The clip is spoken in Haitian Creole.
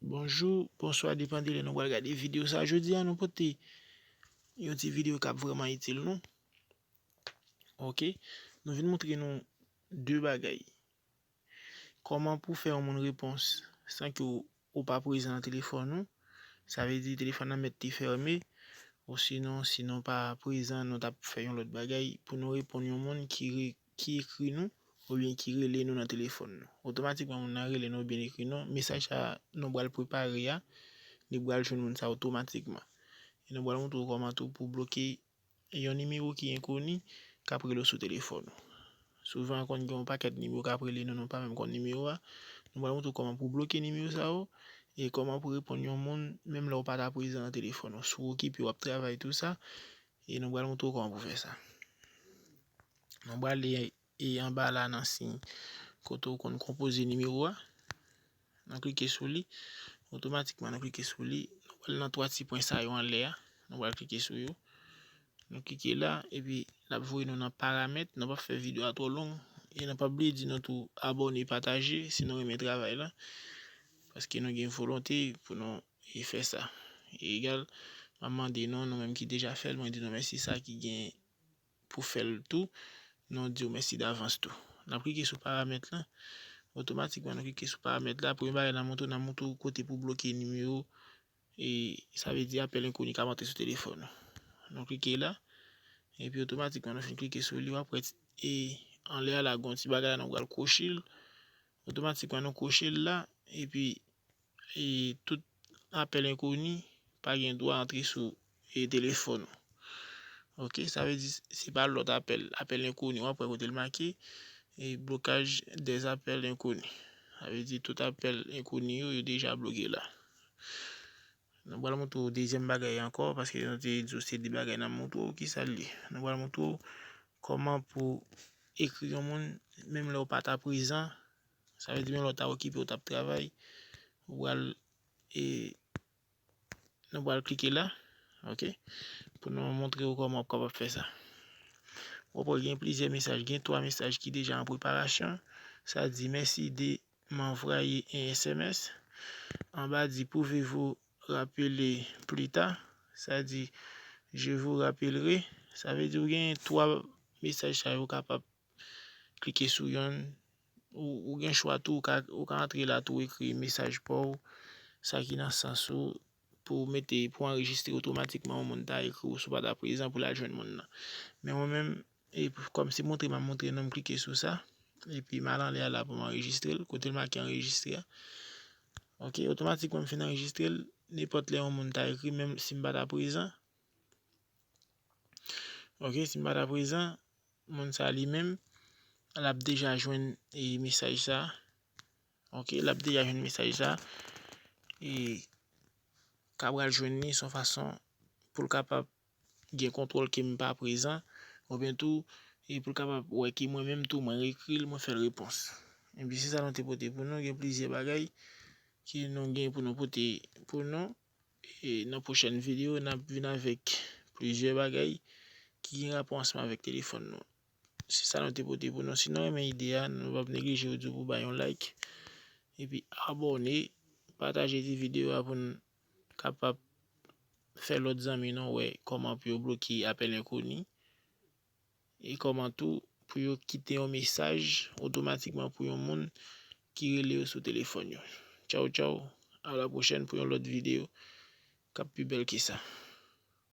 Bonjou, bonswa depan de lè nou pral gade videyo sa jodi an nou pote yon ti videyo kap vreman itil nou ok nou vin moutre nou de bagay koman pou fè yon moun repons san ki ou Ou pa prezan nan telefòn ou, sa vle di telefòn nan mèt te fèmen, osinon si nou pa prezan nou tap fè yon lòt bagay pou nou reponn yon moun ki ekri nou oubyen ki rele nou nan telefòn nou. Otomatikman moun nan rele nou oubyen li ekri nou, mesaj sa nou pral prepare a, li pral jwenn moun sa otomatikman. E nou pral montre w kòman tou pou w bloke Yon nimewo ki enkoni k ap rele w sou telefòn ou. Souvan konn gen yon pakèt nimewo k ap rele nou, nou pa menm konn nimewo a. Nou pral montre w kòman pou w bloke nimewo sa yo e kòman pou w reponn yon moun menm lè w pa ta prezan nan telefòn ou. Si w okipe w ap travay tou sa e nou pral montre w kòman pou w fè sa. Nou pral li E anba la nan siy kote ou konn konpoze nimewo a, nan klike sou li, otomatikman nan klike sou li, nou pral nan 3 ti pwen sa yo anlè a, nou pral klike sou yo, nou klike la, epi l ap voye nou nan paramèt, nou pa fè video a twò long, e nou pa bliye di nou tou abòne, pataje si nou renmen travay la, paske nou gen volonte pou nou fè sa, e egal, m ap mande nou, nou menm ki deja fè l, mwen di nou mèsi sa ki gen. pou fèl tou nou diw mèsi davans tou. Nap klike sou paramèt lan otomatikman nou klike sou paramèt la premye bagay nan montre w nan montre w kote pou bloke nimewo e sa vle di apèl enkoni kap antre sou telefòn ou nou klike la epi otomatikman nou finn klike sou li wap wè e anlè a la gon ti bagay la nou pral kwochel otomatikman nou kwochel la epi e tout apèl enkoni pa gen dwa antre sou e telefòn ou ok sa vle di se pa lòt apèl apèl enkoni wap wè kote l make e blokaj dè apèl enkoni sa vle di tout apèl enkoni yo yo deja bloke la nou pral montre w dezyèm bagay ankò paske nou te di w se de bagay nap montre w ki sa l ye nou pral montre w kòman pou ekri yon moun menm lè w pata prezan Sa vle di menm lè w ta okipe w tap travay ou pral e nou pral klike la ok pou nou montre w kòman ou kapab fè sa wap wè gen plizyè mesaj gen 3 mesaj ki deja an preparasyon sa di mèsi de m anvwaye 1 sms anba di pouve vou rapele plita sa di je vou rapelere sa vle di w gen 3 mesaj sa yo kapab Klike sou yonn. Ou gen chwa tou ou ka antre la tou ekri mesaj pa w, sa ki nan sans ou pou w mete pou anrejistre otomatikman yon moun ta ekri w si w pa ta prezan pou l al jwenn moun nan. Men mwen menm kòm se montre m ap montre nou m klike sou sa epi m al anlè a la pou m anrejistre l kote l make anrejistre a. Ok otomatikman m fin anrejistre l nenpòt lè yon moun ta ekri m menm si m pa ta prezan. Ok si m pa ta prezan moun sa li menm l ap deja jwenn mesaj sa ok l ap deja jwenn mesaj sa e kapab jwenn li son fason pou l kapab gen kontwòl ke m pa prezan ou byen tou pou l kapab wè ke mwen menm tou mwen rekri l mwen fè l repons se sa nou te pote pou nou gen plizyè bagay ke nou gen pou nou pote pou nou. E nan pwochèn video nap vin avèk plizyè bagay ki gen rapò ansanm avèk telefòn nou. Se sa nou te pote pou nou. Si nou renmen ide a, nou pap neglije ou di pou bay yon like epi abone, pataje ti video a pou nou kapab fè lòt zanmi nou wè kòman pou yo bloke apèl enkoni. e kòman tou pou yo kite yon mesaj otomatikman pou yon moun ki rele yo sou telefòn yo. Tchaw tchaw, a la pwochèn pou yon lòt videyo k ap pi bèl ke sa.